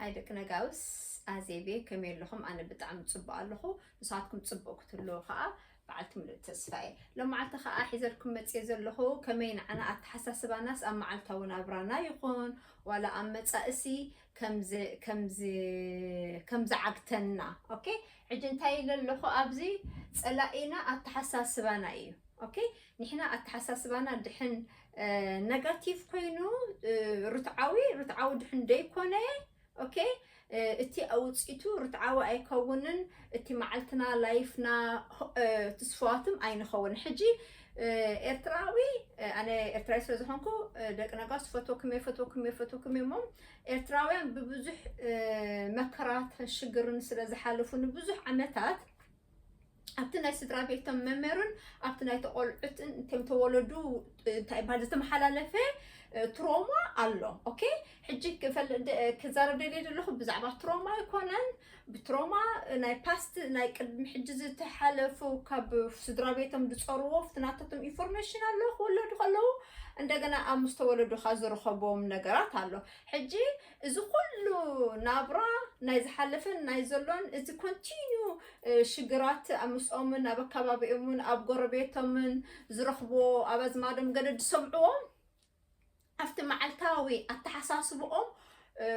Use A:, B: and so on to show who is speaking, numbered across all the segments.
A: ሃይ ደቂ ነጋውስ ኣዜቤ ከመይ ኣለኹም? ኣነ ብጣዕሚ ፅቡቅ ኣለኹ ንስኻትኩም ፅቡቅ ክትህልው ከዓ በዓልቲ ምሉእ ተስፋ እየ። ሎመዓልቲ ከዓ ሒዘልኩም መፅየ ዘለኹ ከመይ ንዓና ኣተሓሳስባናስ ኣብ መዓልታዊ ናብራና ይኹን ዋላ ኣብ መፃእሲ ከምዝዓግተና ኦኬ ሕጂ እንታይ ኢለ ኣለኹ ኣብዚ ፀላኢና ኣተሓሳስባና እዩ ኦኬ ንሕና ኣተሓሳስባና ድሕን ነጋቲቭ ኮይኑ ርትዓዊ ርትዓዊ ድሕን ደይኮነ ኦኬ እቲ ኣውፅኢቱ ርትዓዊ ኣይከውንን እቲ መዓልትና ላይፍና ትስፋዋትም ኣይንኸውን ሕጂ ኤርትራዊ ኣነ ኤርትራዊ ስለ ዝኾንኩ ደቂ ነጋስ ፈትወኩም እየ ፈትወኩም እየ ፈትወኩም እየ እሞ ኤርትራውያን ብብዙሕ መከራትን ሽግርን ስለ ዝሓለፉ ንብዙሕ ዓመታት ኣብቲ ናይ ስድራ ቤቶም መምህርን ኣብቲ ናይ ተቆልዑትን እቶም ተወለዱ እንታይ ይበሃል ዝተመሓላለፈ ትሮማ ኣሎ ኦኬ ሕጂ ክዛረብ ደልየ ዘለኹ ብዛዕባ ትሮማ ኣይኮነን ብትሮማ ናይ ፓስት ናይ ቅድሚ ሕጂ ዝተሓለፉ ካብ ስድራ ቤቶም ዝፀርዎ ፍትናተቶም ኢንፎርሜሽን ኣሎ ክወለዱ ከለዉ እንደገና ኣብ ምስ ተወለዱካ ዝረኸቦም ነገራት ኣሎ ሕጂ እዚ ኩሉ ናብራ ናይ ዝሓለፈን ናይ ዘሎን እዚ ኮንቲኒዩ ሽግራት ኣብ ምስኦምን ኣብ ኣካባቢኦምን ኣብ ጎረቤቶምን ዝረኽብዎ ኣብ ኣዝማዶም ገለ ዝሰምዕዎ ኣብቲ መዓልታዊ ኣተሓሳስብኦም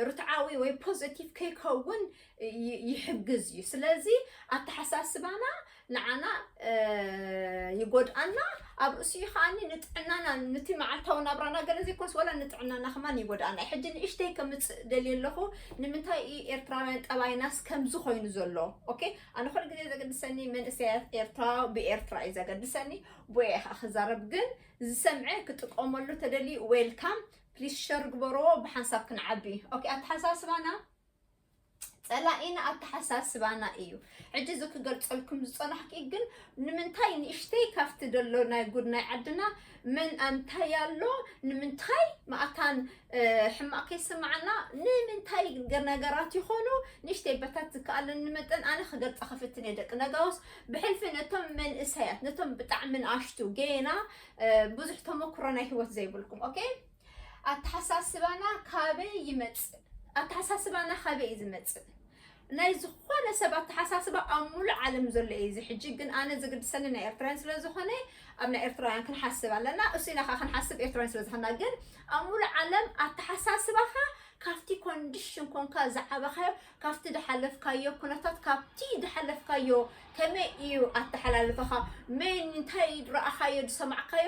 A: ርትዓዊ ወይ ፖዘቲቭ ከይከውን ይሕግዝ እዩ ስለዚ ኣተሓሳስባና ንዓና ይጎድኣና ኣብ ርእሲኡ ከዓኒ ንጥዕናና ንቲ መዓልታዊ ናብራና ገለ ዘይኮንስ ወላ ንጥዕናና ከማን ይጎድኣና እዩ ሕጂ ንእሽተይ ከምፅእ ደልየ ኣለኹ ንምንታይ እዩ ኤርትራውያን ጠባይናስ ከምዚ ኮይኑ ዘሎ ኦኬ ኣነ ኩሉ ግዜ ዘገድሰኒ መንእሰያት ኤርትራ ብኤርትራ እዩ ዘገድሰኒ ቦየ ከዓ ክዛረብ ግን ዝሰምዐ ክጥቀመሉ ተደልዩ ዌልካም ፕሊስ ሸር ግበርዎ ብሓንሳብ ክንዓቢ ኦኬ ኣተሓሳስባና ጸላኢና ኣተሓሳስባና እዩ። ሕጂ እዚ ክገልጸልኩም ዝጸናሕኩ ግን ንምንታይ ንእሽተይ ካብቲ ደሎ ናይ ጉድ ናይ ዓድና መን ኣንታይ ኣሎ ንምንታይ ማእታን ሕማቕ ከይስምዓና ንምንታይ ነገራት ይኾኑ ንእሽተይ በታት ዝከኣለኒ መጠን ኣነ ክገልጸ ክፍትን እየ ደቂ ነጋውስ ብሕልፊ ነቶም መንእሰያት ነቶም ብጣዕሚ ንኣሽቱ ገና ብዙሕ ተመክሮ ናይ ህይወት ዘይብልኩም ኦኬ ኣተሓሳስባና ካበይ ይመፅእ? ኣተሓሳስባና ካበይ እዩ ዝመፅእ? ናይ ዝኾነ ሰብ ኣተሓሳስባ ኣብ ሙሉእ ዓለም ዘሎ እዩ እዚ ሕጂ ግን ኣነ ዝግድሰኒ ናይ ኤርትራውያን ስለ ዝኾነ ኣብ ናይ ኤርትራውያን ክንሓስብ ኣለና እሱ ኢና ከዓ ክንሓስብ ኤርትራውያን ስለ ዝኾና ግን ኣብ ሙሉእ ዓለም ኣተሓሳስባኻ ካብቲ ኮንዲሽን ኮንካ ዝዓበኻዮ ካብቲ ዝሓለፍካዮ ኩነታት ካብቲ ዝሓለፍካዮ ከመይ እዩ ኣተሓላልፈኻ መን እንታይ ረኣኻዮ ዝሰማዕካዮ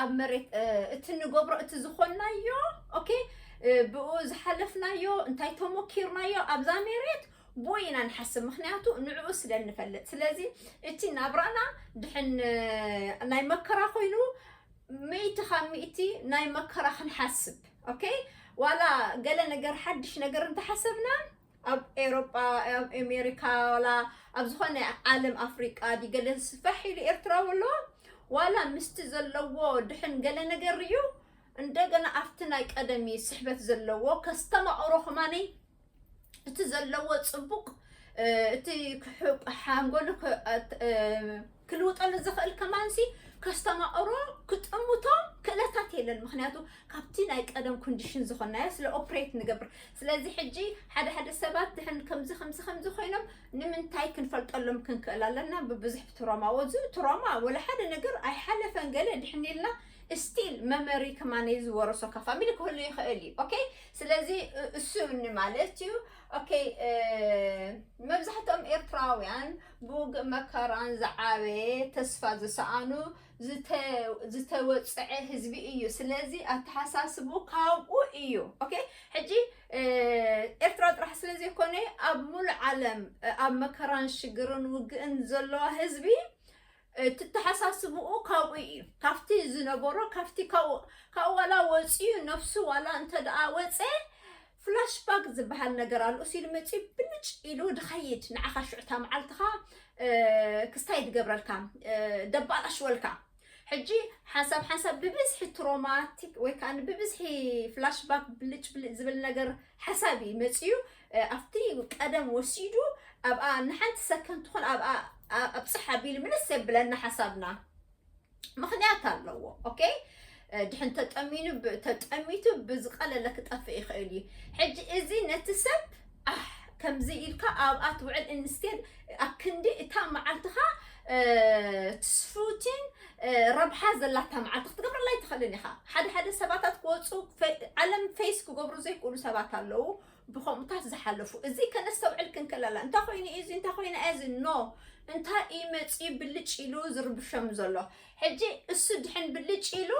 A: ኣብ መሬት እቲ ንገብሮ እቲ ዝኾናዮ ኦኬ ብኡ ዝሓለፍናዮ እንታይ ተሞኪርናዮ ኣብዛ መሬት ብኡ ኢና ንሓስብ ምክንያቱ ንዕኡ ስለ እንፈልጥ ስለዚ እቲ ናብራና ድሕን ናይ መከራ ኮይኑ ሚእቲ ካብ ሚእቲ ናይ መከራ ክንሓስብ ኦኬ ዋላ ገለ ነገር ሓድሽ ነገር እንተሓሰብና ኣብ ኤሮጳ ኣብ ኤሜሪካ ዋላ ኣብ ዝኾነ ዓለም ኣፍሪቃ ድዩ ገለ ስፈሕ ኢሉ ኤርትራዊ ኣለዋ ዋላ ምስቲ ዘለዎ ድሕን ገለ ነገር ርዩ እንደገና ኣብቲ ናይ ቀደም እዩ ስሕበት ዘለዎ ከስተማቕሮ ከማነይ እቲ ዘለዎ ጽቡቕ እቲ ሓንጎሉ ክልውጠሉ ዝኽእል ከማንሲ ከስተማቕሮ ክጥምቶ ክእለታት የለን ምክንያቱ ካብቲ ናይ ቀደም ኮንዲሽን ዝኾናዮ ስለ ኦፕሬት ንገብር ስለዚ ሕጂ ሓደ ሓደ ሰባት ድሕን ከምዚ ከምዚ ከምዚ ኮይኖም ንምንታይ ክንፈልጠሎም ክንክእል ኣለና ብብዙሕ ትሮማ ወዙ ትሮማ ወላ ሓደ ነገር ኣይሓለፈን ገለ ድሕን ኢልና ስቲል መመሪ ከማነ ዝወረሶ ካብ ፋሚሊ ክህሉ ይኽእል እዩ ኦኬ ስለዚ እሱ ማለት እዩ ኦኬ መብዛሕትኦም ኤርትራውያን ብውግእ መከራን ዝዓበየ ተስፋ ዝሰኣኑ ዝተወፅዐ ህዝቢ እዩ ስለዚ ኣተሓሳስብኡ ካብኡ እዩ ኦኬ ሕጂ ኤርትራ ጥራሕ ስለ ዘይኮነ ኣብ ሙሉእ ዓለም ኣብ መከራን ሽግርን ውግእን ዘለዋ ህዝቢ እትተሓሳስብኡ ካብኡ እዩ ካብቲ ዝነበሮ ካብቲ ካብኡ ካብኡ ዋላ ወፅዩ ነፍሱ ዋላ እንተደኣ ወፀ ፍላሽ ባክ ዝበሃል ነገር ኣሎ እሱ ኢሉ መፅዩ ብልጭ ኢሉ ድኸይድ ንዓኻ ሽዑታ መዓልትኻ ክስታይ ድገብረልካ ደባላሽወልካ ሕጂ ሓንሳብ ሓንሳብ ብብዝሒ ትሮማቲክ ወይ ከዓ ብብዝሒ ፍላሽ ባክ ብልጭ ብልጭ ዝብል ነገር ሓሳብ እዩ መፅዩ ኣብቲ ቀደም ወሲዱ ኣብኣ ንሓንቲ ሰከንድ ትኹን ኣብኣ ኣብፅሕ ኣቢሉ ምልስ የብለና ሓሳብና ምክንያት ኣለዎ ኦኬ ድሕን ተጠሚኑ ተጠሚቱ ብዝቀለለ ክጠፍእ ይኽእል እዩ ሕጂ እዚ ነቲ ሰብ ከምዚ ኢልካ ኣብኣ ትውዕል እንስቴድ ኣብ ክንዲ እታ መዓልትኻ ትስፉቲን ረብሓ ዘላታ መዓልቲ ክትገብረላ ኣይትኽእልን ኢኻ ሓደ ሓደ ሰባታት ክወፁ ዓለም ፌስ ክገብሩ ዘይክእሉ ሰባት ኣለዉ ብኸምኡታት ዝሓለፉ እዚ ከነስተውዕል ክንክለላ እንታይ ኮይኑ እዩ እዚ እንታይ ኮይኑ እዚ ኖ እንታይ እዩ መፅኡ ብልጭ ኢሉ ዝርብሸም ዘሎ ሕጂ እሱ ድሕን ብልጭ ኢሉ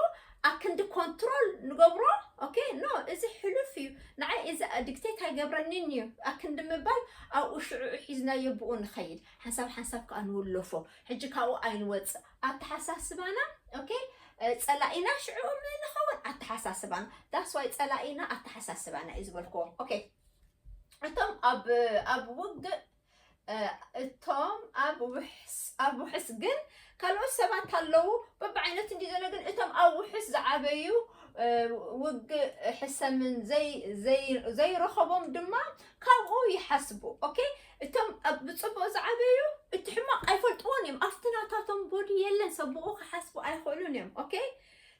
A: ኣክንዲ ኮንትሮል ንገብሮ ኦኬ ኖ እዚ ሕሉፍ እዩ ንዓይ እዚ ዲክቴት ኣይገብረኒን እዩ ኣክንዲ ምባል ኣብኡ ሽዑዑ ሒዝናዮ ብኡ ንኸይድ ሓንሳብ ሓንሳብ ከዓ ንውለፎ ሕጂ ካብኡ ኣይንወፅእ ኣተሓሳስባና ኦኬ ጸላኢና ሽዑ ምን ንኸውን ኣተሓሳስባና ዳስ ዋይ ጸላኢና ኣተሓሳስባና እዩ ዝበልክዎ ኦኬ እቶም ኣብ ኣብ ውግእ እቶም ኣብ ውሕስ ኣብ ውሕስ ግን ካልኦት ሰባት ኣለዉ በብዓይነት እንዲ ዘሎ ግን እቶም ኣብ ውሕስ ዝዓበዩ ውግእ ሕሰምን ዘይረኸቦም ድማ ካብኡ ይሓስቡ ኦኬ እቶም ኣብ ብጽቡቅ ዝዓበዩ እቲ ሕማቅ ኣይፈልጥዎን እዮም ኣብቲ ናታቶም ቦዲ የለን ሰብ ብኡ ክሓስቡ ኣይክእሉን እዮም ኦኬ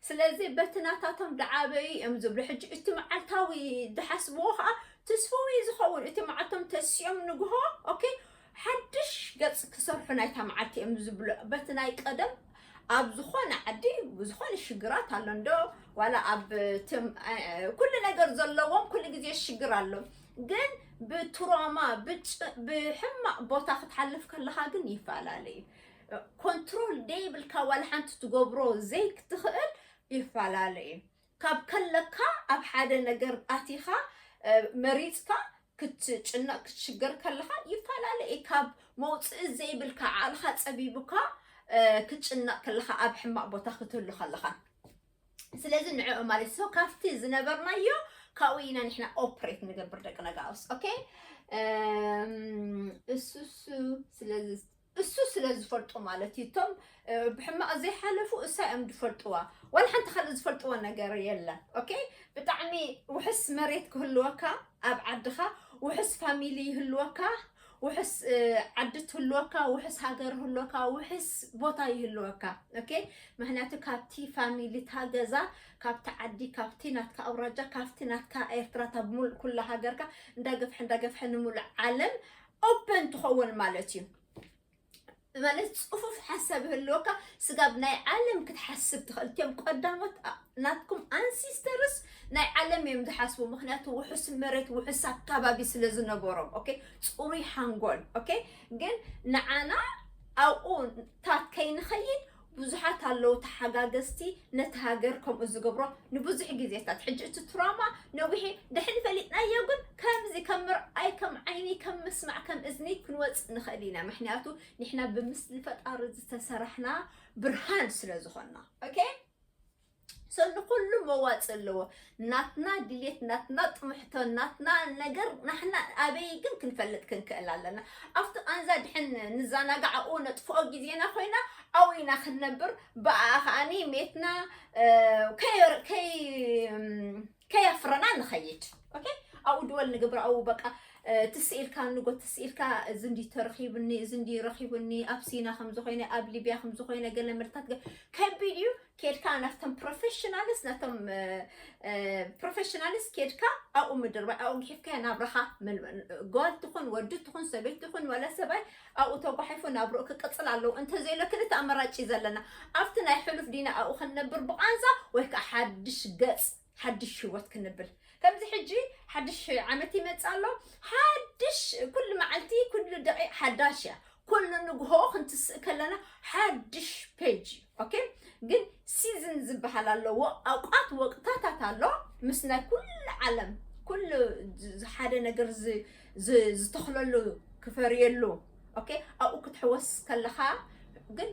A: ስለዚ በቲ ናታቶም ድዓበዩ እዮም ዝብሉ ሕጂ እቲ መዓልታዊ ድሓስብዎ ከዓ ትስፍው እዩ ዝኸውን እቲ መዓልቶም ተሲኦም ንግሆ ኦኬ ሓድሽ ገጽ ክሰርሑ ናይታ መዓልቲ እዮም ዝብሉ በቲ ናይ ቀደም ኣብ ዝኾነ ዓዲ ዝኾነ ሽግራት ኣሎ እንዶ ዋላ ኣብ ኩሉ ነገር ዘለዎም ኩሉ ግዜ ሽግር ኣሎ ግን ብትሮማ ብሕማቕ ቦታ ክትሓልፍ ከለኻ ግን ይፈላለ እዩ ኮንትሮል ደይብልካ ዋላ ሓንቲ ትገብሮ ዘይክትኽእል ይፈላለ እዩ ካብ ከለካ ኣብ ሓደ ነገር ኣቲኻ መሪፅካ ክትጭነቕ ክትሽገር ከለኻ ይፈላለ እዩ ካብ መውፅኢ ዘይብልካ ዓቕልኻ ፀቢቡካ ክትጭነቕ ከለኻ ኣብ ሕማቕ ቦታ ክትህሉ ከለኻ ስለዚ ንዕዑ ማለት ሰው ካፍቲ ዝነበርናዮ ካብኡ ኢና ንሕና ኦፕሬት ንገብር ደቂ ነጋውስ ኦኬ እሱሱ ስለዚ እሱ ስለ ዝፈልጡ ማለት እዩ እቶም ብሕማቕ ዘይሓለፉ እሳ እዮም ዝፈልጥዋ ዋላ ሓንቲ ካልእ ዝፈልጥዎ ነገር የለን ኦኬ ብጣዕሚ ውሕስ መሬት ክህልወካ ኣብ ዓድኻ ውሕስ ፋሚሊ ይህልወካ ውሕስ ዓዲ ትህልወካ ውሕስ ሃገር ህልወካ ውሕስ ቦታ ይህልወካ ኦኬ ምክንያቱ ካብቲ ፋሚሊታ ገዛ ካብቲ ዓዲ ካብቲ ናትካ ኣውራጃ ካብቲ ናትካ ኤርትራታ ብምሉእ ኩላ ሃገርካ እንዳገፍሐ እንዳገፍሐ ንምሉእ ዓለም ኦፐን ትኸውን ማለት እዩ ማለት ፅፉፍ ሓሳብ ይህልወካ ስጋብ ናይ ዓለም ክትሓስብ ትኽእል እትም ቀዳሞት ናትኩም ኣንሲስተርስ ናይ ዓለም እዮም ዝሓስቡ ምክንያቱ ውሑስ መሬት ውሑስ ኣካባቢ ስለ ዝነበሮም ኦኬ ፅሩይ ሓንጎል ኦኬ ግን ንዓና ኣብኡ ታት ከይንኸይድ ብዙሓት ኣለዉ ተሓጋገዝቲ ነቲ ሃገር ከምኡ ዝገብሮ ንብዙሕ ግዜታት ሕጂ እቲ ትራማ ነዊሒ ድሕን ፈሊጥናዮ ግን ከምዚ ከም ምርኣይ ከም ዓይኒ ከም ምስማዕ ከም እዝኒ ክንወፅእ ንኽእል ኢና ምክንያቱ ንሕና ብምስሊ ፈጣሪ ዝተሰራሕና ብርሃን ስለ ዝኾንና ኦኬ ሰው ንኩሉ መዋፅ ኣለዎ። ናትና ድሌት፣ ናትና ጥምሕቶ፣ ናትና ነገር ናሕና ኣበይ ግን ክንፈልጥ ክንክእል ኣለና። ኣብቲ ቃንዛ ድሕን ንዘናጋዕ ኣብኡ ነጥፍኦ ግዜና ኮይና ኣብኡ ኢና ክንነብር ብኣ ከዓኒ ሜትና ከየፍረና ንኸይድ ኦኬ ኣብኡ ድወል ንግብር ኣብኡ በቃ ትስኢልካ ንጎ ትስኢልካ እዚ እንዲ ተረኺብኒ እዚ እንዲ ረኺብኒ ኣብ ሲና ከምዚ ኮይነ ኣብ ሊብያ ከምዚ ኮይነ ገለ ምርታት ከቢድ እዩ ኬድካ ናፍቶም ፕሮፌሽናልስ ናፍቶም ፕሮፌሽናልስ ኬድካ ኣብኡ ምድርባይ ኣብኡ ግሒፍካዮ ናብራኻ ጓል ትኹን ወዲ ትኹን ሰበይቲ ትኹን ወላ ሰብኣይ ኣብኡ ተጓሒፉ ናብርኡ ክቅፅል ኣለዎ እንተዘይሎ ክልተ ኣመራጭ እዩ ዘለና ኣብቲ ናይ ሕሉፍ ዲና ኣብኡ ክንነብር ብቓንዛ ወይ ከዓ ሓድሽ ገፅ ሓድሽ ህይወት ክንብል ከምዚ ሕጂ ሓድሽ ዓመት ይመጽእ ኣሎ ሓድሽ ኩሉ መዓልቲ ኩሉ ደቂቕ ሓዳሽ እያ ኩሉ ንግሆ ክንትስእ ከለና ሓድሽ ፔጅ እዩ ኦኬ ግን ሲዝን ዝበሃል ኣለዎ ኣውቃት ወቅታታት ኣሎ ምስ ናይ ኩሉ ዓለም ኩሉ ዝ- ሓደ ነገር ዝ- ዝ- ዝተኽለሉ ክፈርየሉ ኦኬ ኣብኡ ክትሕወስ ከለኻ ግን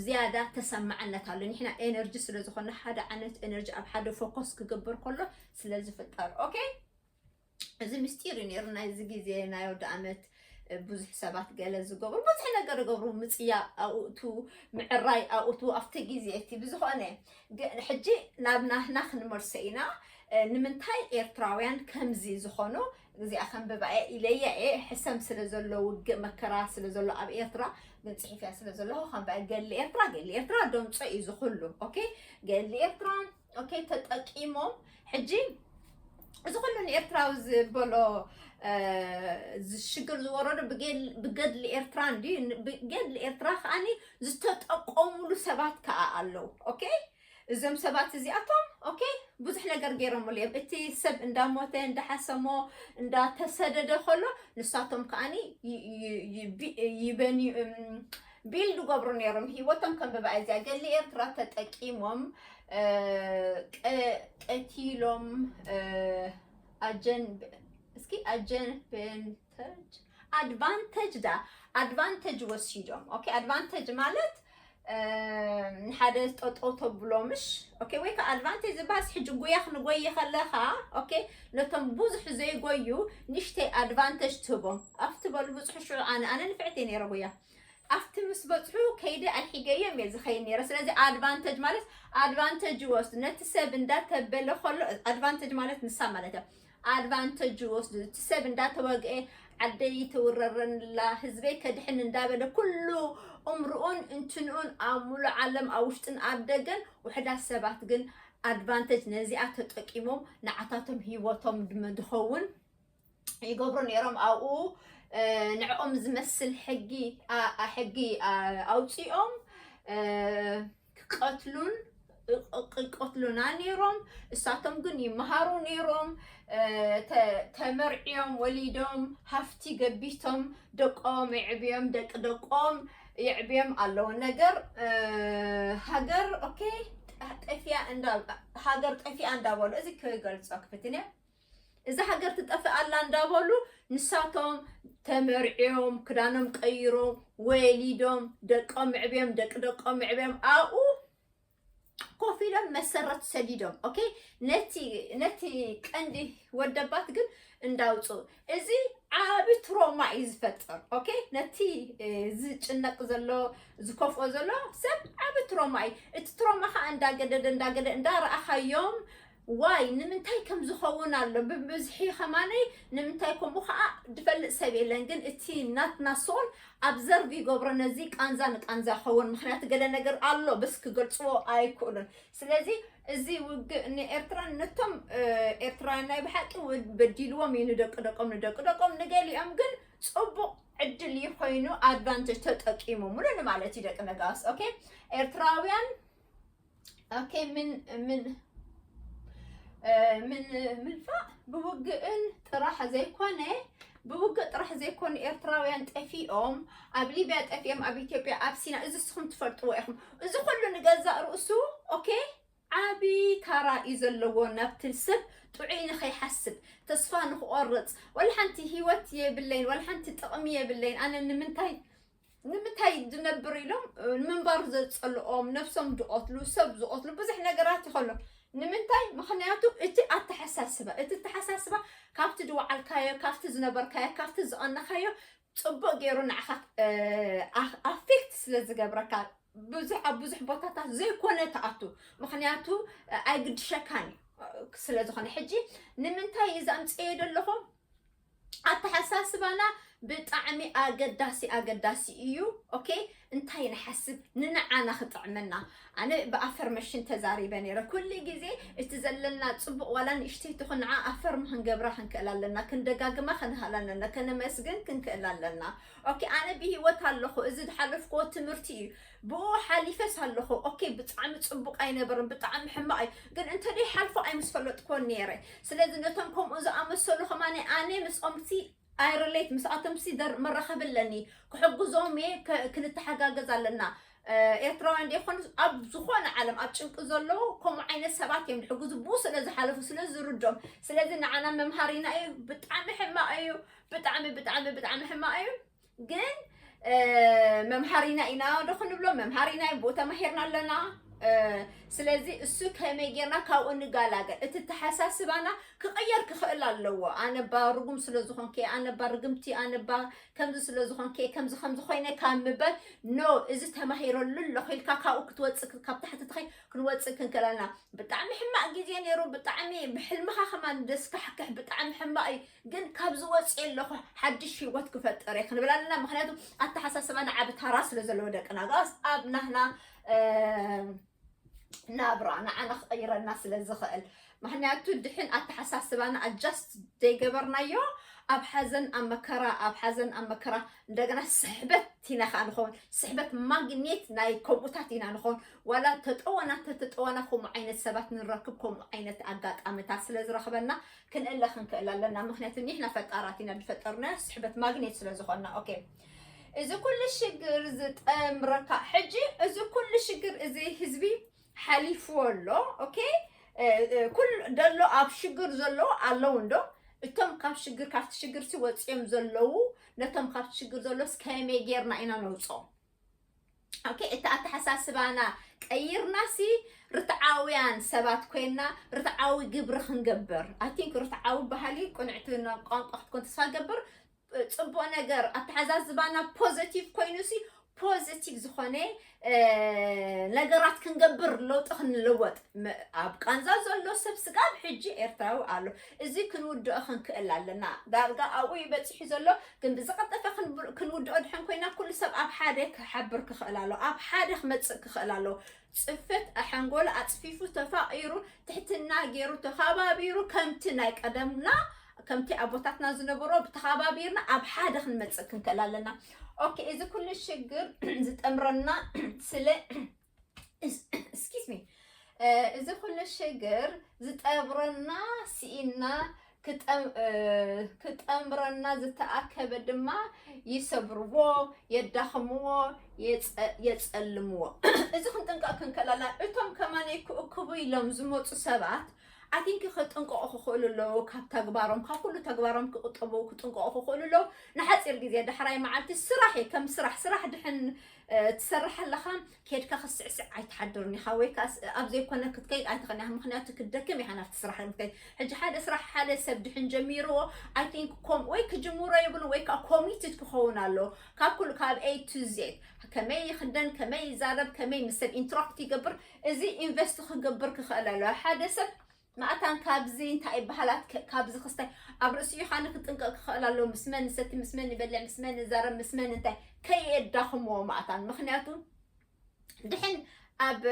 A: ዝያዳ ተሰማዕነት ኣሎ ንሕና ኤነርጂ ስለ ዝኾነ ሓደ ዓይነት ኤነርጂ ኣብ ሓደ ፎከስ ክገብር ከሎ ስለ ዝፍጠር ኦኬ እዚ ምስጢር እዩ ነይሩ ናይዚ ግዜ ናይ ወዲ ዓመት ብዙሕ ሰባት ገለ ዝገብሩ ብዙሕ ነገር ይገብሩ ምፅያ ኣብኡቱ ምዕራይ ኣብኡቱ ኣብቲ ግዜ እቲ ብዝኾነ ሕጂ ናብ ናህና ክንመልሶ ኢና ንምንታይ ኤርትራውያን ከምዚ ዝኾኑ እዚኣ ከንብባ እየ ኢለያ እየ ሕሰም ስለ ዘሎ ውግእ መከራ ስለ ዘሎ ኣብ ኤርትራ ግን ፅሒፍያ ስለ ዘለኹ ከንብባ እየ ገሊ ኤርትራ ገሊ ኤርትራ ደምፆ እዩ ዝኹሉ ኦኬ ገሊ ኤርትራ ኦኬ ተጠቂሞም ሕጂ እዚ ኩሉ ንኤርትራዊ ዝበሎ እ፣ ሽግር ዝወረዶ ብገል- ብገድሊ ኤርትራ እንድዩ ን- ብገድሊ ኤርትራ ከዓኒ ዝተጠቆሙሉ ሰባት ከዓ ኣለዉ ኦኬ እዞም ሰባት እዚኣቶም ኦኬ ብዙሕ ነገር ገይሮምሉ እዮም እቲ ሰብ እንዳሞተ እንዳሓሰሞ እንዳተሰደደ ከሎ ንሳቶም ከዓኒ ይበንዩ ቢልድ ገብሩ ነይሮም ሂወቶም ከም ብባ እዚያ ገሊ ኤርትራ ተጠቂሞም ቀቲሎም ኣጀን እስኪ ኣጀን ኣድቫንተጅ ድኣ ኣድቫንተጅ ወሲዶም ኦኬ ኣድቫንተጅ ማለት ንሓደ ጠጠው ተብሎ ምሽ ኦኬ ወይ ከዓ ኣድቫንቴጅ ዝበሃልስ ሕጂ ጉያ ክንጎይ ከለካ ኦኬ ነቶም ብዙሕ ዘይጎዩ ንሽተይ ኣድቫንቴጅ ትህቦም ኣብቲ በሉ ብፅሑ ሽዑ ኣነ ኣነ ንፍዕቲ ነይረ ጉያ ኣብቲ ምስ በፅሑ ከይደ ኣልሒገዮም እየ ዝኸይድ ነይረ ስለዚ ኣድቫንቴጅ ማለት ኣድቫንቴጅ ይወስዱ ነቲ ሰብ እንዳተበለ ከሎ ኣድቫንቴጅ ማለት ንሳ ማለት እያ ኣድቫንተጅ ይወስዱ እቲ ሰብ እንዳተወግኤ ዓደይ ይተውረረንላ ህዝበይ ከድሕን እንዳበለ ኩሉ እምርኡን እንትንኡን ኣብ ሙሉእ ዓለም ኣብ ውሽጥን ኣብ ደገን ውሕዳት ሰባት ግን ኣድቫንተጅ ነዚኣ ተጠቂሞም ንዓታቶም ሂወቶም ድመ ድኸውን ይገብሩ ነይሮም ኣብኡ ንዕኦም ዝመስል ሕጊ ሕጊ ኣውፂኦም ክቀትሉን ይቀትሉና ነይሮም እሳቶም ግን ይመሃሩ ነይሮም ተመርዕዮም ወሊዶም ሃፍቲ ገቢቶም ደቆም የዕብዮም ደቂ ደቆም የዕብዮም ኣለዎ ነገር ሃገር ኦኬ ጠፊያ እንዳ ሃገር ጠፊኣ እንዳበሉ እዚ ክገልጾ ክፍትን እየ እዛ ሃገር ትጠፍእ ኣላ እንዳበሉ ንሳቶም ተመርዕዮም ክዳኖም ቀይሮም ወሊዶም ደቆም ምዕብዮም ደቂ ደቆም ምዕብዮም ኣብኡ ኮፍ ኢሎም መሰረት ሰዲዶም ኦኬ ነቲ ነቲ ቀንዲ ወደባት ግን እንዳውፅኡ እዚ ዓብ ትሮማ እዩ ዝፈጥር ኦኬ ነቲ ዝጭነቅ ዘሎ ዝከፍኦ ዘሎ ሰብ ዓብ ትሮማ እዩ እቲ ትሮማ ከዓ እንዳገደደ እንዳገደ እንዳረኣኻዮም ዋይ ንምንታይ ከም ዝኸውን ኣሎ ብብዝሒ ከማነይ ንምንታይ ከምኡ ከዓ ድፈልጥ ሰብ የለን ግን እቲ ናትና ሶል ኣብዘርቭ ይገብሮ ነዚ ቃንዛ ንቃንዛ ይኸውን ምክንያቱ ገለ ነገር ኣሎ በስ ክገልፅዎ ኣይክእሉን ስለዚ እዚ ውግእ ንኤርትራን ነቶም እ፣ ኤርትራውያን ናይ ብሓቂ ው- በዲልዎም እዩ ንደቂ ደቆም ንደቂ ደቆም ንገሊኦም ግን ፅቡቅ ዕድል እዩ ኮይኑ ኣድቫንቴጅ ተጠቂሞምሉ ንማለት እዩ ደቂ ነጋስ ኦኬ ኤርትራውያን ኦኬ ምን ምን ምን ምንፋዕ ብውግእን ጥራሕ ዘይኮነ ብውግእ ጥራሕ ዘይኮኑ ኤርትራውያን ጠፊኦም ኣብ ሊብያ ጠፊኦም ኣብ ኢትዮጵያ ኣብ ሲና እዚ ንስኹም ትፈልጥዎ ኢኹም እዚ ኩሉ ንገዛእ ርእሱ ኦኬ ዓቢ ታራ እዩ ዘለዎ ናብቲ ሰብ ጥዑይ ንኸይሓስብ ተስፋ ንክቆርፅ ወላ ሓንቲ ሂወት የብለይን ወላ ሓንቲ ጥቕሚ የብለይን ኣነ ንምንታይ ንምታይ ዝነብር ኢሎም ንምንባር ዘፀልኦም ነብሶም ዝቐትሉ ሰብ ዝቐትሉ ብዙሕ ነገራት ይኸሎ ንምንታይ ምክንያቱ እቲ ኣተሓሳስባ እቲ ኣተሓሳስባ ካብቲ ዝወዓልካዮ ካብቲ ዝነበርካዮ ካብቲ ዝቐነኻዮ ፅቡቅ ገይሩ ንዓኻ ኣፌክት ስለ ዝገብረካ ብዙሕ ኣብ ብዙሕ ቦታታት ዘይኮነ ትኣቱ ምክንያቱ ኣይግድሸካን እዩ ስለ ዝኾነ ሕጂ ንምንታይ እዚ ኣምፅኤ ዘለኹ ኣተሓሳስባና ብጣዕሚ ኣገዳሲ ኣገዳሲ እዩ ኦኬ እንታይ ንሓስብ ንንዓና ክጥዕመና ኣነ ብኣፈርመሽን ተዛሪበ ነይረ ኩሉ ግዜ እቲ ዘለና ፅቡቅ ዋላ ንእሽተይ ትኹን ንዓ ኣፈርም ክንገብራ ክንክእል ኣለና ክንደጋግማ ክንሃል ኣለና ከነመስግን ክንክእል ኣለና ኦኬ ኣነ ብሂወት ኣለኹ እዚ ዝሓለፍክዎ ትምህርቲ እዩ ብኡ ሓሊፈስ ኣለኹ ኦኬ ብጣዕሚ ጽቡቅ ኣይነበረን ብጣዕሚ ሕማቅ እዩ ግን እንተደይ ሓልፎ ኣይምስፈለጥክዎን ነይረ ስለዚ ነቶም ከምኡ ዝኣመሰሉ ከማኒ ኣነ ምስኦምሲ ኣይረሌት ምስኣቶምሲ መራኸቢ ኣለኒ ክሕግዞም እየ ክንተሓጋገዝ ኣለና ኤርትራውያን ደይኮኑ ኣብ ዝኾነ ዓለም ኣብ ጭንቂ ዘለዉ ከምኡ ዓይነት ሰባት እዮም ዝሕግዙ ብኡ ስለ ዝሓለፉ ስለ ዝርዶም ስለዚ ንዓና መምሃሪና እዩ ብጣዕሚ ሕማቕ እዩ ብጣዕሚ ብጣዕሚ ብጣዕሚ ሕማቕ እዩ ግን መምሃሪና ኢና ዶ ክንብሎ መምሃሪና ቦ ተማሂርና ኣለና ስለዚ እሱ ከመይ ጌርና ካብኡ ንጋላገል እቲ ተሓሳስባና ክቐየር ክኽእል ኣለዎ ኣነባ ርጉም ስለ ዝኾንከ ኣነባ ርግምቲ ኣነባ ከምዚ ስለ ዝኾንከ ከምዚ ከምዚ ኮይነ ካብ ምበር ኖ እዚ ተማሂረሉ ኣለኹ ኢልካ ካብኡ ክትወፅእ ካብ ታሕቲ ትኸይ ክንወፅእ ክንክእል ኣለና ብጣዕሚ ሕማቕ ግዜ ነይሩ ብጣዕሚ ብሕልምኻ ከማን ደስካሕክሕ ብጣዕሚ ሕማቕ እዩ ግን ካብዚ ወፅየ ኣለኹ ሓድሽ ሂወት ክፈጥር እየ ክንብል ኣለና ምክንያቱ ኣተሓሳስባና ዓብ ታራ ስለ ዘለዎ ደቅና ጋስ ኣብ ናህና ናብራ ንዓና ክቕይረና ስለ ዝኽእል ምክንያቱ ድሕን ኣተሓሳስባና ኣጃስት ዘይገበርናዮ ኣብ ሓዘን ኣብ መከራ ኣብ ሓዘን ኣብ መከራ እንደገና ስሕበት ኢና ከዓ ንኸውን ስሕበት ማግኔት ናይ ከምኡታት ኢና ንኸውን ዋላ ተጠወና ተተጠወና ከምኡ ዓይነት ሰባት ንረክብ ከምኡ ዓይነት ኣጋጣሚታት ስለ ዝረኽበና ክንእለ ክንክእል ኣለና ምክንያቱ ኒሕና ፈጣራት ኢና ዝፈጠርና ስሕበት ማግኔት ስለ ዝኾና ኦኬ እዚ ኩሉ ሽግር ዝጠምረካ ሕጂ እዚ ኩሉ ሽግር እዚ ህዝቢ ሓሊፍዎ ኣሎ ኦኬ ኩሉ ደሎ ኣብ ሽግር ዘሎ ኣለዉ እንዶ እቶም ካብ ሽግር ካብቲ ሽግር ሲ ወፂኦም ዘለዉ ነቶም ካብቲ ሽግር ዘሎስ ከመይ ጌርና ኢና ነውፅኦም ኦኬ እቲ ኣተሓሳስባና ቀይርናሲ ርትዓውያን ሰባት ኮይና ርትዓዊ ግብሪ ክንገብር ኣይ ቲንክ ርትዓዊ ባህሊ ቅንዕቲ ቋንቋ ክትኮን ተስፋ ገብር ፅቡቅ ነገር ኣተሓዛዝባና ፖዘቲቭ ኮይኑሲ ፖዘቲቭ ዝኾነ ነገራት ክንገብር ለውጢ ክንለወጥ ኣብ ቃንዛ ዘሎ ሰብ ስጋብ ሕጂ ኤርትራዊ ኣሎ እዚ ክንውድኦ ክንክእል ኣለና ዳርጋ ኣብኡ ይበፂሑ ዘሎ ግን ብዝቐጠፈ ክንውድኦ ድሐን ኮይና ኩሉ ሰብ ኣብ ሓደ ክሓብር ክኽእል ኣሎ ኣብ ሓደ ክመፅእ ክኽእል ኣሎ ፅፈት ኣሐንጎሎ ኣፅፊፉ ተፋቒሩ ትሕትና ገይሩ ተኸባቢሩ ከምቲ ናይ ቀደምና ከምቲ ኣቦታትና ዝነበሮ ብተኸባቢርና ኣብ ሓደ ክንመፅእ ክንክእል ኣለና ኦኬ እዚ ኩሉ ሽግር ዝጠምረና ስለ እዚ ኩሉ ሽግር ዝጠብረና ስኢና ክጠምረና ዝተኣከበ ድማ ይሰብርዎ፣ የዳኽምዎ፣ የፀልምዎ። እዚ ክንጥንቀቕ ክንከላላ እቶም ከማነይ ክእክቡ ኢሎም ዝመፁ ሰባት ኣቲንኪ ክጥንቀቑ ክኽእሉ ኣለዉ ካብ ተግባሮም ካብ ኩሉ ተግባሮም ክቁጠቡ ክጥንቀቑ ክኽእሉ ኣለዉ ንሓፂር ግዜ ዳሕራይ መዓልቲ ስራሕ እዩ ከም ስራሕ ስራሕ ድሕን ትሰርሕ ኣለኻ ኬድካ ክትስዕስዕ ኣይትሓድርን ኢኻ ወይ ከዓ ኣብ ዘይኮነ ክትከይድ ኣይትኽእልን ኢኻ ምክንያቱ ክትደክም ኢኻ ናብቲ ስራሕ ክትከይድ ሕጂ ሓደ ስራሕ ሓደ ሰብ ድሕን ጀሚርዎ ኣይ ቲንክ ወይ ክጅምሮ የብሉ ወይ ከዓ ኮሚትድ ክኸውን ኣለዎ ካብ ኩሉ ካብ ኤ ቱ ዜድ ከመይ ይኽደን ከመይ ይዛረብ ከመይ ምስ ሰብ ኢንትራክት ይገብር እዚ ኢንቨስት ክገብር ክኽእል ኣለዎ ሓደ ሰብ መኣታን ካብዚ እንታይ ይበሃላት ከ ካብዚ ክስታይ ኣብ ርእሲ ዮሓኒ ክጥንቀቕ ክኽእል ኣለዎ ምስ መን ንሰቲ ምስ መን ንበልዕ ምስ መን ንዛረብ ምስ መን እንታይ ከየዳኽምዎ መኣታን ምክንያቱ ድሕን ኣብ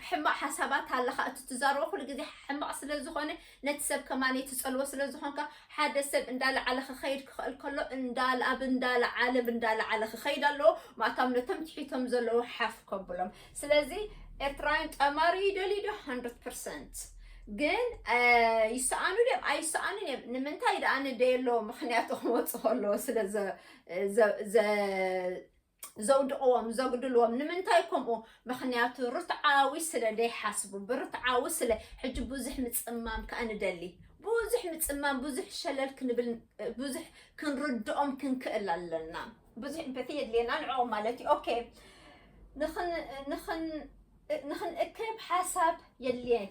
A: ሕማቅ ሓሳባት ኣለካ እቲ ትዛረቦ ኩሉ ግዜ ሕማቅ ስለ ዝኾነ ነቲ ሰብ ከማን ትጸልዎ ስለ ዝኾንካ ሓደ ሰብ እንዳለዓለ ክኸይድ ክኽእል ከሎ ኣብ እንዳለዓለ እንዳለዓለ ክኸይድ ኣለዎ ማእታም ነቶም ትሒቶም ዘለዉ ሓፍ ከብሎም ስለዚ ኤርትራውያን ጠማሪ ይደልዩ ዶ ሃንድረድ ፐርሰንት ግን ይሰኣኑ ድዮም ኣይሰኣኑን እዮም ንምንታይ ደኣ ንደየለዎ ምክንያት ክወፁ ከለዎ ስለ ዘውድቕዎም ዘጉድልዎም ንምንታይ ከምኡ ምክንያቱ ርትዓዊ ስለ ዘይሓስቡ ብርትዓዊ ስለ ሕጂ ብዙሕ ምፅማም ከዓ ንደሊ ብዙሕ ምፅማም ብዙሕ ሸለል ክንብል ብዙሕ ክንርድኦም ክንክእል ኣለና ብዙሕ ኢምፐቲ የድልየና ንዕኦም ማለት እዩ ኦኬ ንክንእከብ ሓሳብ የድልየን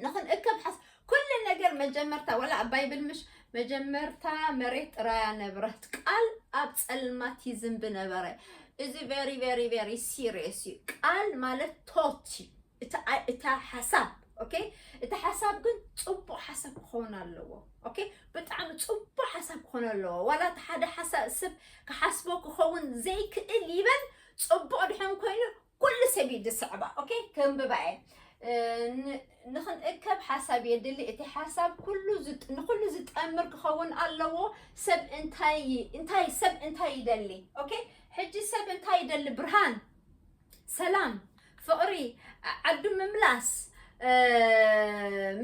A: ንክንእከብ ሓሳብ ኩሉ ነገር መጀመርታ ወላ ኣብ ባይብል ምሽ መጀመርታ መሬት ጥራያ ነበረት ቃል ኣብ ፀልማት ይዝንብ ነበረ እዚ ቨሪ ቨሪ ቨሪ ሲሪየስ እዩ ቃል ማለት ቶት እዩ እታ ሓሳብ ኦኬ እቲ ሓሳብ ግን ፅቡቅ ሓሳብ ክኸውን ኣለዎ ኦኬ ብጣዕሚ ፅቡቅ ሓሳብ ክኾን ኣለዎ ዋላ እቲ ሓደ ሓሳብ ስብ ክሓስቦ ክኸውን ዘይክእል ይበል ፅቡቅ ድሕን ኮይኑ ኩሉ ሰብ እዩ ዝስዕባ ኦኬ ከንብባ እየ ንክንእከብ ሓሳብ የድሊ እቲ ሓሳብ ንኩሉ ዝጠምር ክኸውን ኣለዎ ሰብ እንታይ ሰብ እንታይ ይደሊ ኦኬ ሕጂ ሰብ እንታይ ይደሊ ብርሃን ሰላም ፍቅሪ ዓዱ ምምላስ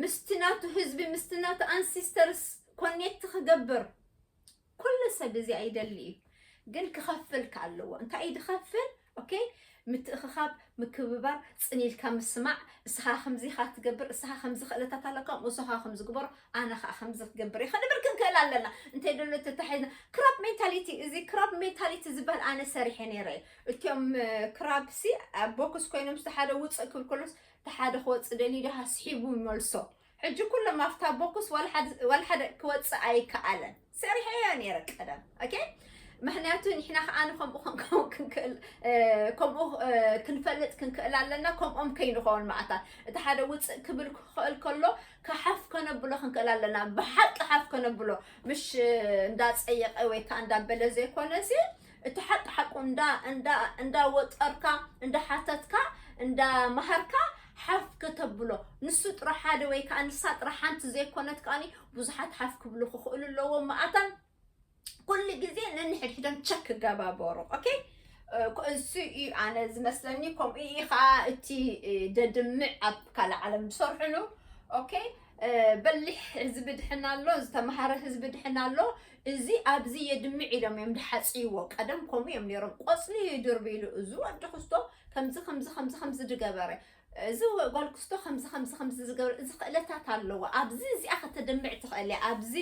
A: ምስቲ ናቱ ህዝቢ ምስቲ ናቱ ኣንሲስተርስ ኮኔክት ክገብር ኩሉ ሰብ እዚኣ ይደሊ እዩ ግን ክኸፍል ከኣለዎ እንታይ እዩ ድኸፍል ኦኬ ምትእኽኻብ ምክብባር ፅኒልካ ምስማዕ እስኻ ከምዚ ካ ትገብር እስኻ ከምዚ ክእለታት ኣለካ ምስኻ ከምዚ ግበሮ ኣነ ከዓ ከምዚ ክገብር እዩ ክንብል ክንክእል ኣለና እንተይ ደሎ ተታሒዝና ክራፕ ሜንታሊቲ እዚ ክራፕ ሜንታሊቲ ዝበሃል ኣነ ሰሪሐ ነይረ እዩ እትም ክራብሲ ኣብ ቦክስ ኮይኖም ዝተሓደ ውፅእ ክብል ከሎስ ተሓደ ክወፅእ ደልዩ ድሃ ስሒቡ ይመልሶ ሕጂ ኩሎም ኣብታ ቦክስ ዋልሓደ ክወፅእ ኣይከኣለን ሰሪሐዮ ነይረ ቀደም ኦኬ ምክንያቱ ንሕና ከዓ ንከምኡ ክንከውን ክንክእል ከምኡ ክንፈልጥ ክንክእል ኣለና ከምኦም ከይንኸውን ማእታ እቲ ሓደ ውፅእ ክብል ክኽእል ከሎ ካሓፍ ከነብሎ ክንክእል ኣለና ብሓቂ ሓፍ ከነብሎ ምሽ እንዳፀየቀ ወይ ከዓ እንዳበለ ዘይኮነ እዚ እቲ ሓቂ ሓቁ እንዳ እንዳ እንዳ ወጠርካ እንዳ ሓተትካ እንዳ መሃርካ ሓፍ ከተብሎ ንሱ ጥራሕ ሓደ ወይ ከዓ ንሳ ጥራሕ ሓንቲ ዘይኮነት ከዓኒ ብዙሓት ሓፍ ክብሉ ክኽእሉ ኣለዎም መኣተን ኩሉ ግዜ ነንሕድሕደን ቸክ ክገባበሩ ኦኬ እሱ እዩ ኣነ ዝመስለኒ ከምኡ እዩ ከዓ እቲ ደድምዕ ኣብ ካልእ ዓለም ዝሰርሕሉ ኦኬ በሊሕ ህዝቢ ድሕና ኣሎ፣ ዝተምሃረ ህዝቢ ድሕና ኣሎ፣ እዚ ኣብዚ የድምዕ ኢሎም እዮም ድሓፅይዎ። ቀደም ከምኡ እዮም ነይሮም። ቆፅሊ ይድርቢ ኢሉ እዚ ወዲ ክስቶ ከምዚ ከምዚ ከምዚ ከምዚ ድገበረ እዚ ጓል ክስቶ ከምዚ ከምዚ ከምዚ ዝገብረ እዚ ክእለታት ኣለዎ ኣብዚ እዚኣ ከተድምዕ ትኽእል እያ ኣብዚ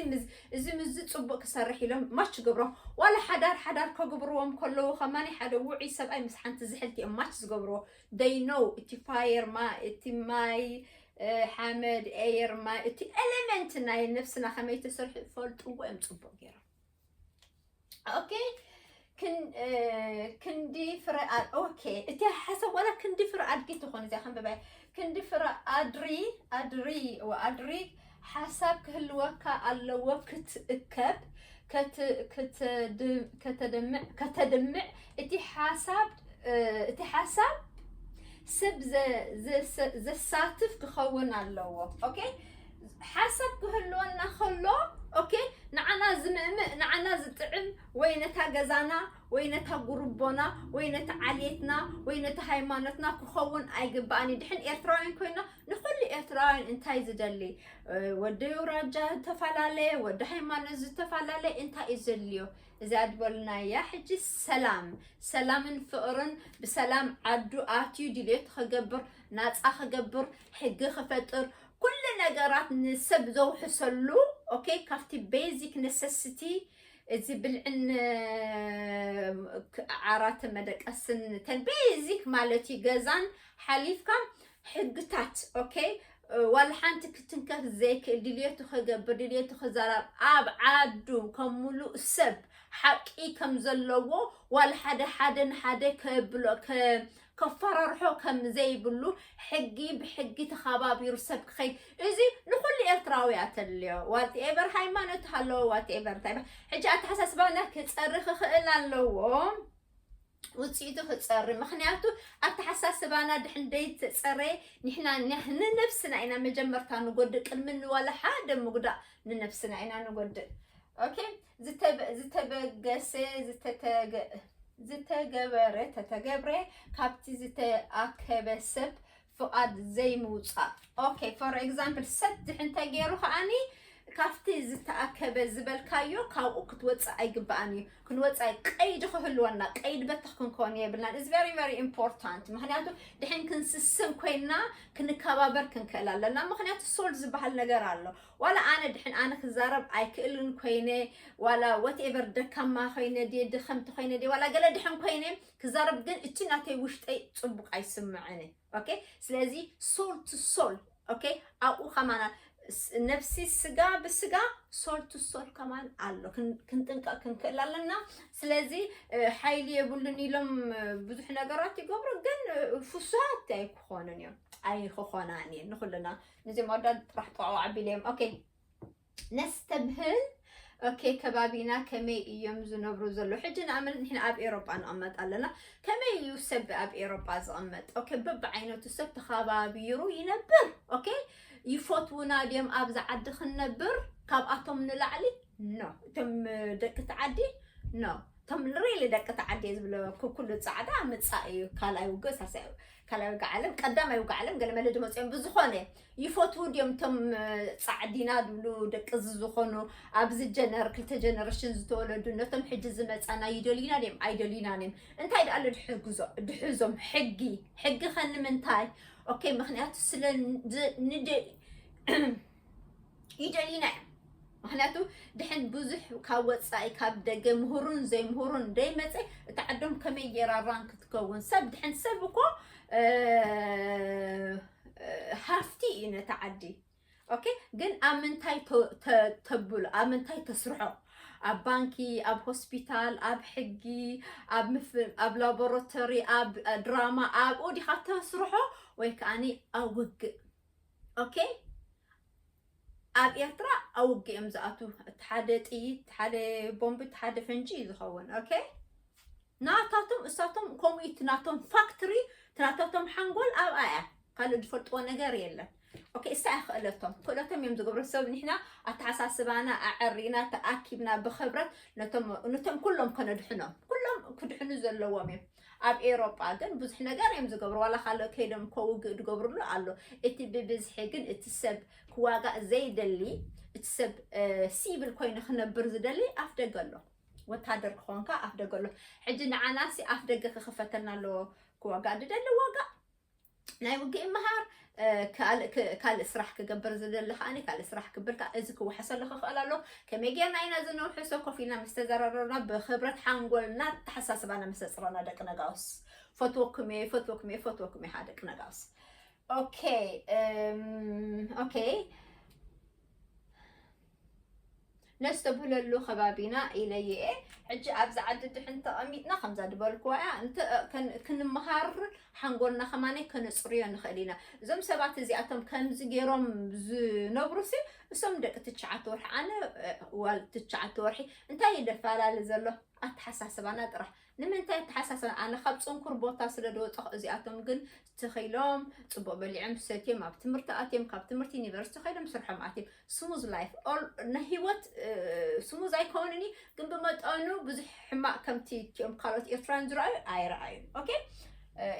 A: እዚ ምዚ ፅቡቅ ክሰርሕ ኢሎም ማች ገብሮም ዋላ ሓዳር ሓዳር ከግብርዎም ከለዉ ከማኒ ሓደ ውዑይ ሰብኣይ ምስ ሓንቲ ዝሕልቲ እዮም ማች ዝገብርዎ ደይ ኖው እቲ ፋየር እቲ ማይ ሓመድ ኤየር ማይ እቲ ኤሌመንት ናይ ነፍስና ከመይ ተሰርሑ ፈልጥዎ እዮም ፅቡቅ ገይሮም ኦኬ ክንዲ ፍረ ኦኬ እቲ ሓሳብ ዋላ ክንዲ ፍረ ኣድጊ ትኾን እዚኣ ከንብባይ ክንዲ ፍረ ኣድሪ ኣድሪ ኣድሪ ሓሳብ ክህልወካ ኣለዎ ክትእከብ ከተድምዕ እቲ ሓሳብ እቲ ሓሳብ ሰብ ዘሳትፍ ክኸውን ኣለዎ ኦኬ ሓሳብ ክህልወና ከሎ ኦኬ ንዓና ዝምእምእ ንዓና ዝጥዕም ወይ ነታ ገዛና ወይ ነታ ጉርቦና ወይ ነቲ ዓሌትና ወይ ነቲ ሃይማኖትና ክኸውን ኣይግባእን እዩ ድሕን ኤርትራውያን ኮይና ንኩሉ ኤርትራውያን እንታይ ዝደሊ ወዲ ኣውራጃ ዝተፈላለየ ወዲ ሃይማኖት ዝተፈላለየ እንታይ እዩ ዘድልዮ እዚኣ ድበሉና እያ ሕጂ ሰላም ሰላምን ፍቕርን ብሰላም ዓዱ ኣትዩ ድልየቱ ክገብር ናፃ ክገብር ሕጊ ክፈጥር ኩሉ ነገራት ንሰብ ዘውሕሰሉ ኦኬ ካብቲ ቤዚክ ነሰስቲ እዚ ብልዕን ዓራትን መደቀስን ተን ቤዚክ ማለት እዩ ገዛን ሓሊፍካ ሕግታት ኦኬ ዋላ ሓንቲ ክትንከፍ ዘይክእል ድልየቱ ከገብር ድልየቱ ክዛራብ ኣብ ዓዱ ከም ሙሉእ ሰብ ሓቂ ከም ዘለዎ ዋላ ሓደ ሓደ ንሓደ ከብሎ ከፈራርሖ ከም ዘይብሉ ሕጊ ብሕጊ ተኸባቢሩ ሰብ ክኸይድ እዚ ንኩሉ ኤርትራዊ ኣተልዮ ዋት ኤቨር ሃይማኖት ሃለዎ ዋት ኤቨር እንታይ ሕጂ ኣተሓሳስባና ክፀርኽ ክኽእል ኣለዎ ውፅኢቱ ክፀሪ ምክንያቱ ኣተሓሳስባና ድሕን ደይተፀረየ ንሕና ንነብስና ኢና መጀመርታ ንጎድእ ቅድሚ ንዋላ ሓደ ምጉዳእ ንነብስና ኢና ንጎድእ ኦኬ ዝተበገሰ ዝተገበረ ተተገብረ ካብቲ ዝተኣከበ ሰብ ፍቓድ ዘይምውጻእ ኦኬ ፎር ኤግዛምፕል ሰድሕ እንተገይሩ ከዓኒ ካብቲ ዝተኣከበ ዝበልካዮ ካብኡ ክትወፅእ ኣይግባኣን እዩ ክንወፃእ ቀይዲ ክህልወና ቀይድ በተኽ ክንከውን የብልናን እዚ ቨሪ ቨሪ ኢምፖርታንት ምክንያቱ ድሕን ክንስስን ኮይና ክንከባበር ክንክእል ኣለና ምክንያቱ ሶል ዝበሃል ነገር ኣሎ ዋላ ኣነ ድሕን ኣነ ክዛረብ ኣይክእልን ኮይነ ዋላ ወትኤቨር ደካማ ኮይነ ድየ ድኸምቲ ኮይነ ድየ ዋላ ገለ ድሕን ኮይነ ክዛረብ ግን እቲ ናተይ ውሽጠይ ፅቡቅ ኣይስምዐንን ኦኬ ስለዚ ሶል ቱ ሶል ኦኬ ኣብኡ ከማና ነፍሲ ስጋ ብስጋ ሶል ቱ ሶል ከማን ኣሎ ክንጥንቀቅ ክንክእል ኣለና ስለዚ ሓይሊ የብሉን ኢሎም ብዙሕ ነገራት ይገብሩ ግን ፍሱሃት ኣይክኾኑን እዮም ኣይክኾናን እየን ንኩልና ንዚኦም ኣወዳት ጥራሕ ጠዋዕ ኣቢለ እዮም ኦኬ ነስተብህል ኦኬ ከባቢና ከመይ እዮም ዝነብሩ ዘሎ ሕጂ ንኣመት ንሕና ኣብ ኤሮጳ ንቕመጥ ኣለና ከመይ እዩ ሰብ ኣብ ኤሮጳ ዝቕመጥ ኦኬ በብዓይነቱ ሰብ ተኸባቢሩ ይነብር ኦኬ ይፈትውና ድዮም ኣብዚ ዓዲ ክንነብር ካብኣቶም ንላዕሊ ኖ እቶም ደቂ ተዓዲ ኖ እቶም ሪሊ ደቂ ተዓዲ ዝብለ ኩሉ ፃዕዳ ምፃእ እዩ ካልኣይ ውግእ ሳሳይ ካልኣይ ውግእ ዓለም ቀዳማይ ውግእ ዓለም ገለ መለ ድመፅኦም ብዝኾነ ይፈትዉ ድዮም እቶም ፃዕዲና ዝብሉ ደቂ እዚ ዝኾኑ ኣብዚ ጀነር ክልተ ጀነሬሽን ዝተወለዱ ነቶም ሕጂ ዝመፃና ይደልዩና ድዮም ኣይደልዩናን እዮም እንታይ ደኣ ድሕግዞ ድሕዞም ሕጊ ሕጊ ከ ንምንታይ ኦኬ ምክንያቱ ስለ ይደሊና እዮም ምክንያቱ ድሕን ብዙሕ ካብ ወፃኢ ካብ ደገ ምሁሩን ዘይምሁሩን ደይመፀ እቲ ዓዶም ከመይ ጌራራን ክትከውን ሰብ ድሕን ሰብ እኮ ሃፍቲ እዩ ነቲ ዓዲ ኦኬ ግን ኣብ ምንታይ ተብሎ ኣብ ምንታይ ተስርሖ ኣብ ባንኪ ኣብ ሆስፒታል ኣብ ሕጊ ኣብ ላቦራቶሪ ኣብ ድራማ ኣብኡ ዲኻ ተስርሖ ወይ ከዓኒ ኣብ ውግእ ኦኬ ኣብ ኤርትራ ኣብ ውግእ እዮም ዝኣትዉ እቲ ሓደ ጥይት እቲ ሓደ ቦምቢ እቲ ሓደ ፈንጂ እዩ ዝኸውን ኦኬ ናታቶም እሳቶም ከምኡ እቲ ናቶም ፋክትሪ እቲ ናታቶም ሓንጎል ኣብኣ እያ ካልእ ዝፈልጥዎ ነገር የለን ኦኬ እሳ እያ ክእለቶም ክእለቶም እዮም ዝገብሩ ሰብ ንሕና ኣተሓሳስባና ኣዐሪና ተኣኪብና ብክብረት ነቶም ነቶም ኩሎም ከነድሕኖም ኩሎም ክድሕኑ ዘለዎም እዮም ኣብ ኤሮጳ ግን ብዙሕ ነገር እዮም ዝገብሩ ዋላ ካልእ ከይዶም እኮ ውግእ ዝገብርሉ ኣሎ እቲ ብብዝሒ ግን እቲ ሰብ ክዋጋእ ዘይደሊ እቲ ሰብ ሲቪል ኮይኑ ክነብር ዝደሊ ኣፍ ደገ ኣሎ ወታደር ክኾንካ ኣፍ ደገ ኣሎ ሕጂ ንዓናሲ ኣፍ ደገ ክኽፈተልና ኣለዎ ክዋጋእ ዝደሊ ዋጋእ ናይ ውግእ ምሃር ካልእ ስራሕ ክገብር ዝደሊ ከዓ ካልእ ስራሕ ክብል ከዓ እዚ ክወሓሰሉ ክኽእል ኣሎ ከመይ ጌርና ኢና እዚ ነውሕሶ ኮፍ ኢልና ምስ ተዘራረብና ብክብረት ሓንጎልና ኣተሓሳስባና ምስ ተፅረና ደቂ ነጋውስ ፈትወኩም እየ ፈትወኩም እየ ፈትወኩም እየ ደቂ ነጋውስ ኦኬ ኦኬ ነስተብህለሉ ከባቢና ኢለየ እየ ሕጂ ኣብዚ ዓዲ ድሕን ተቐሚጥና ከምዛ ድበልክዋ እያ ክንምሃር ሓንጎልና ከማነይ ከነፅርዮ ንኽእል ኢና እዞም ሰባት እዚኣቶም ከምዚ ገይሮም ዝነብሩ ሲ እሶም ደቂ ትሽዓተ ወርሒ ኣነ ዋል ትሽዓተ ወርሒ እንታይ ይደፈላለ ዘሎ ኣተሓሳስባና ጥራሕ ንምንታይ ኣተሓሳሰ ኣነ ካብ ፅንኩር ቦታ ስለ ዝወፀኹ እዚኣቶም ግን ተኺሎም ፅቡቅ በሊዕም ሰትዮም ኣብ ትምህርቲ ኣትዮም ካብ ትምህርቲ ዩኒቨርሲቲ ከይዶም ስርሖም ኣትዮም ስሙዝ ላይፍ ናይ ሂወት ስሙዝ ኣይከውንን እዩ ግን ብመጠኑ ብዙሕ ሕማቅ ከምቲ እትኦም ካልኦት ኤርትራን ዝረኣዩ ኣይረኣዩን ኦኬ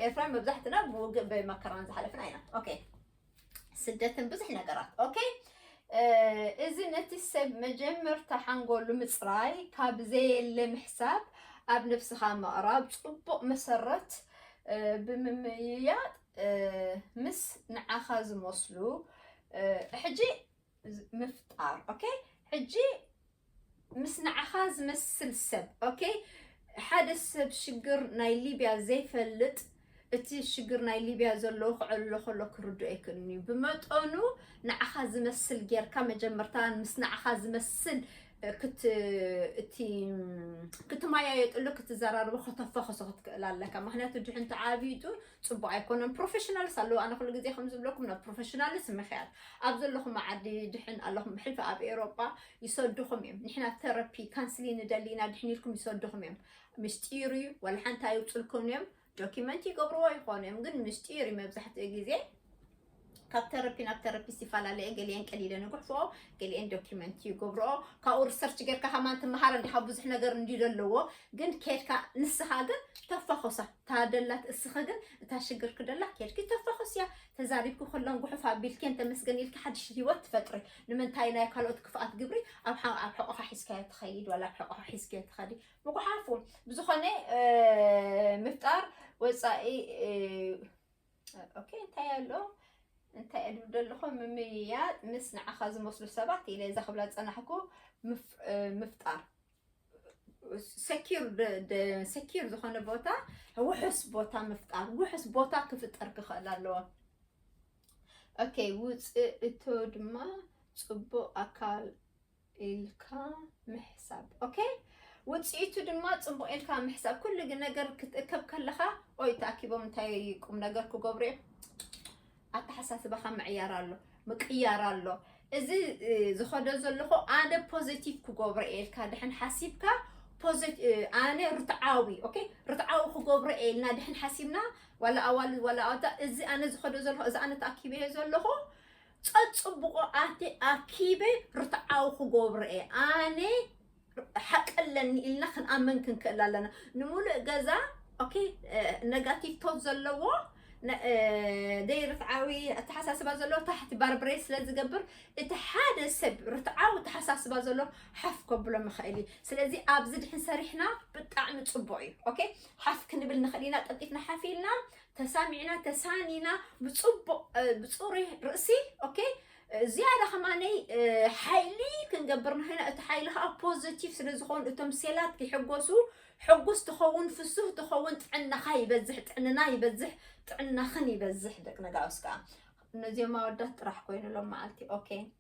A: ኤርትራን መብዛሕትና ብውግእ ብመከራን ዝሓለፍና ኢና ኦኬ ስደትን ብዙሕ ነገራት ኦኬ እዚ ነቲ ሰብ መጀመርታ ሓንጎሉ ምፅራይ ካብ ዘየለ ምሕሳብ ኣብ ነብስኻ ምቕራብ ፅቡቕ መሰረት ብምምይያጥ ምስ ንዓኻ ዝመስሉ ሕጂ ምፍጣር ኦኬ ሕጂ ምስ ንዓኻ ዝመስል ሰብ ኦኬ ሓደ ሰብ ሽግር ናይ ሊብያ ዘይፈልጥ እቲ ሽግር ናይ ሊብያ ዘለዎ ክዕሎ ከሎ ክርድኦ ኣይክእልን እዩ ብመጠኑ ንዓኻ ዝመስል ጌርካ መጀመርታ ምስ ንዓኻ ዝመስል ክትማያየጥሉ ክትዘራርቦ ከተፋኸሶ ክትክእል ኣለካ ምክንያቱ ድሕንቲ ዓብይጡ ፅቡቅ ኣይኮነን ፕሮፌሽናልስ ኣለዉ ኣነ ኩሉ ግዜ ከም ዝብለኩም ናብ ፕሮፌሽናልስ ምክያድ ኣብ ዘለኹም ዓዲ ድሕን ኣለኹም ብሕልፊ ኣብ ኤሮጳ ይሰድኹም እዮም ንሕና ተረፒ ካንስሊ ንደሊ ኢና ድሕን ኢልኩም ይሰድኹም እዮም ምስጢር እዩ ወላ ሓንቲ ኣይውፅልኩን እዮም ዶኪመንት ይገብርዎ ይኾኑ እዮም ግን ምስጢር እዩ መብዛሕትኡ ግዜ ካብ ተረፒ ናብ ተረፒ ሲፈላለ እየ ገሊኤን ቀሊለ ንጉሕፎኦ ገሊኤን ዶኪመንት እዩ ገብረኦ ካብኡ ሪሰርች ጌርካ ሃማን ትመሃር እንዲኻ ብዙሕ ነገር እንዲ ዘለዎ ግን ኬድካ ንስኻ ግን ተፋኾሳ ታደላት እስኺ ግን እታ ሽግር ክደላ ኬድኪ ተፋኾስ እያ ተዛሪብኪ ኩለን ጉሑፍ ኣቢልኬን ተመስገን ኢልኪ ሓድሽ ህይወት ትፈጥሪ ንምንታይ ናይ ካልኦት ክፍኣት ግብሪ ኣብ ኣብ ሕቆኻ ሒዝካዮ ትኸይድ ዋላ ኣብ ሕቆኻ ሒዝክዮ ትኸዲ ምጉሓፉ ብዝኾነ ምፍጣር ወፃኢ ኦኬ እንታይ ኣሎ እንታይ እድብ ደለኹ ምምይያጥ ምስ ንዓኻ ዝመስሉ ሰባት ኢለ እዛ ክብላ ዝፀናሕኩ ምፍጣር ሰኪር ዝኾነ ቦታ ውሑስ ቦታ ምፍጣር ውሑስ ቦታ ክፍጠር ክኽእል ኣለዎ ኦኬ ውፅእ እቶ ድማ ፅቡቅ ኣካል ኢልካ ምሕሳብ ኦኬ ውጽኢቱ ድማ ጽቡቕ ኢልካ ምሕሳብ ኩሉ ግን ነገር ክትእከብ ከለኻ ኦይ ተኣኪቦም እንታይ ቁም ነገር ክገብሩ እዮም ኣተሓሳስባኻ ምዕያር ኣሎ ምቅያር ኣሎ እዚ ዝኸዶ ዘለኹ ኣነ ፖዘቲቭ ክገብሮ እየ ኢልካ ድሕን ሓሲብካ ኣነ ርትዓዊ ኦኬ ርትዓዊ ክገብሮ እየ ኢልና ድሕን ሓሲብና ዋላ ኣዋልድ ዋላ ኣወዳ እዚ ኣነ ዝኸዶ ዘለኹ እዚ ኣነ ተኣኪበዮ ዘለኹ ጸጽቡቁ ኣቲ ኣኪበ ርትዓዊ ክጎብሮ እየ ኣነ ሓቂ ኣለኒ ኢልና ክንኣመን ክንክእል ኣለና ንሙሉእ ገዛ ኦኬ ነጋቲቭ ቶት ዘለዎ ደይ ርትዓዊ ኣተሓሳስባ ዘሎ ታሕቲ ባርብሬ ስለ ዝገብር እቲ ሓደ ሰብ ርትዓዊ ኣተሓሳስባ ዘሎ ሓፍ ከብሎ ምኽእል እዩ ስለዚ ኣብዚ ድሕን ሰሪሕና ብጣዕሚ ፅቡቅ እዩ ኦኬ ሓፍ ክንብል ንኽእል ኢና ቀልጢፍና ሓፍ ኢልና ተሳሚዕና ተሳኒና ብፅቡቅ ብፁሩይ ርእሲ ኦኬ ዝያዳ ከማነይ ሓይሊ ክንገብር ንክና እቲ ሓይሊ ከዓ ፖዘቲቭ ስለ ዝኾኑ እቶም ሴላት ክሕጎሱ ሕጉስ ትኸውን ፍሱህ ትኸውን ጥዕናኻ ይበዝሕ ጥዕንና ይበዝሕ ጥዕናኽን ይበዝሕ ደቂ ነጋውስ ከዓ እነዚኦም ኣወዳት ጥራሕ ኮይኑሎም መዓልቲ ኦኬ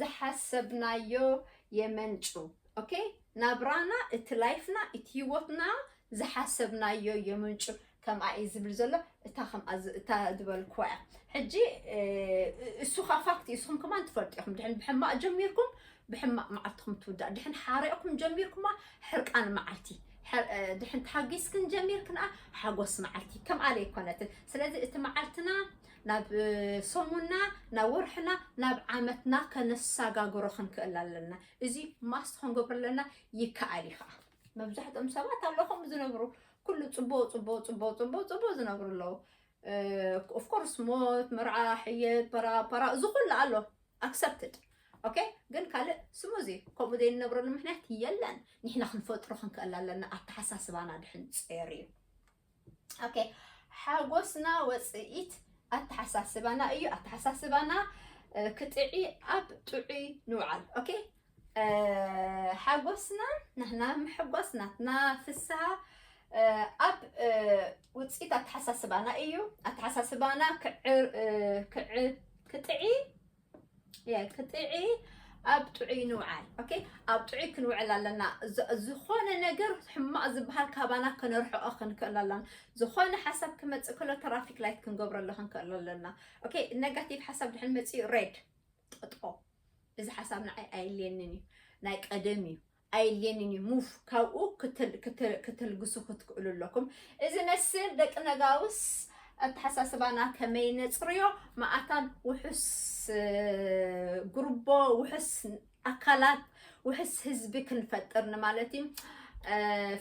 A: ዝሓሰብናዮ የመንጩ ኦኬ ናብራና እቲ ላይፍና እቲ ሂወትና ዝሓሰብናዮ የመንጩ ከምኣ እዩ ዝብል ዘሎ እታ ከምኣ ዝ- እታ ዝበልክዋ እያ ሕጂ እ፣ እሱ ካ ፋክት እዩ እስኹም ከማን ትፈልጡ ኢኹም ድሕን ብሕማቅ ጀሚርኩም ብሕማቅ መዓልትኩም ትውዳእ ድሕን ሓሪቕኩም ጀሚርኩማ ሕርቃን መዓልቲ ሐ- እ፣ ድሕን ተሓጊስክን ጀሚርክንኣ ሓጎስ መዓልቲ ከምኣ ለይኮነትን ስለዚ እቲ መዓልትና ናብ ሰሙንና ናብ ወርሕና ናብ ዓመትና ከነሳጋግሮ ክንክእል ኣለና እዚ ማስት ክንገብሮ ኣለና ይከኣል እዩ ከዓ መብዛሕትኦም ሰባት ኣለዉ ከምኡ ዝነብሩ ኩሉ ፅቦ ፅቦ ፅቦ ፅቦ ፅቦ ዝነብሩ ኣለዉ ኦፍኮርስ ሞት መርዓ ሕየት ፓራፓራ እዚ ኩሉ ኣሎ ኣክሰፕትድ ኦኬ ግን ካልእ ስሙዚ ከምኡ ዘይንነብረሉ ምክንያት የለን ንሕና ክንፈጥሮ ክንክእል ኣለና ኣተሓሳስባና ድሕን ፀር እዩ ኦኬ ሓጎስና ወፅኢት ኣተሓሳስባና እዩ ኣተሓሳስባና ክጥዒ ኣብ ጥዑይ ንውዓል ኦኬ ሓጎስና ንሕና ምሕጓስ ናትና ፍስሃ ኣብ ውፅኢት ኣተሓሳስባና እዩ ኣተሓሳስባና ክጥዒ ክጥዒ ኣብ ጥዑይ ንውዓል ኦኬ ኣብ ጥዑይ ክንውዕል ኣለና ዝኾነ ነገር ሕማቕ ዝበሃል ካባና ከነርሕኦ ክንክእል ኣለና ዝኾነ ሓሳብ ክመፅእ ከሎ ትራፊክ ላይት ክንገብረሉ ክንክእል ኣለና ኦኬ ነጋቲቭ ሓሳብ ድሕን መፅኡ ሬድ ጠጦ እዚ ሓሳብ ንዓይ ኣየልየንን እዩ ናይ ቀደም እዩ ኣየድልየንን እዩ ሙቭ ካብኡ ክትልግሱ ክትክእሉ ኣለኩም እዚ መስል ደቂ ነጋውስ ኣተሓሳስባና ከመይ ነፅርዮ መኣታን ውሑስ ጉርቦ ውሑስ ኣካላት ውሕስ ህዝቢ ክንፈጥር ንማለት እዩ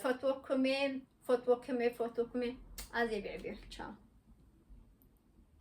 A: ፈትወኩም እየ ፈትወኩም እየ ፈትወኩም እየ ኣዜ ብዕብዮ ቻው